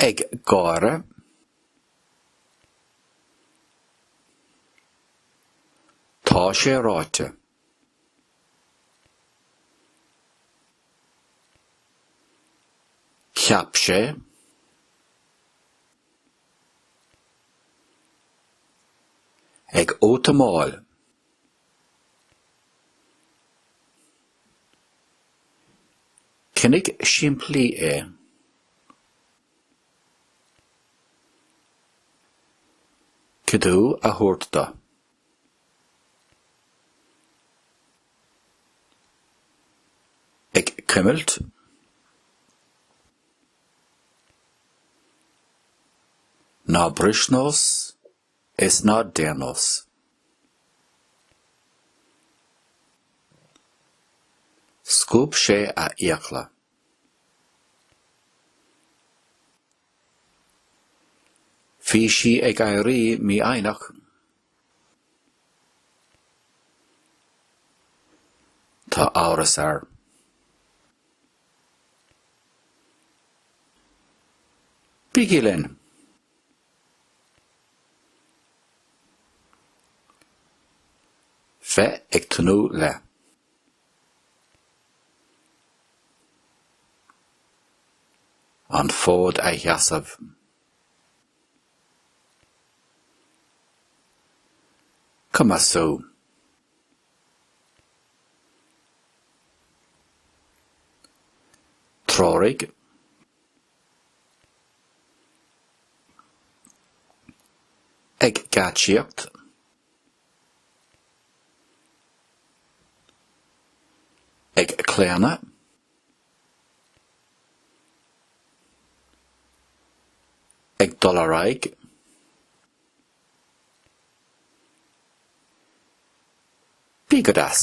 ag gáire, Tá sé ráite. Cheap sé. Ag útamáil. Coinnigh simplí é. Cuidiú a thabhairt dó. Ag cuimilt. Ná bris nós is ná déan nós. Scuab sé a fhiacla. Bhí sí ag éirí mífhoighneach. Tá amhras air. Bígí linn! Bheith ag tnúth le. An fód a sheasamh. Cumasú. Treoraigh. Ag geáitsíocht. Ag claonadh. ag dul ar aghaidh. Bí go deas.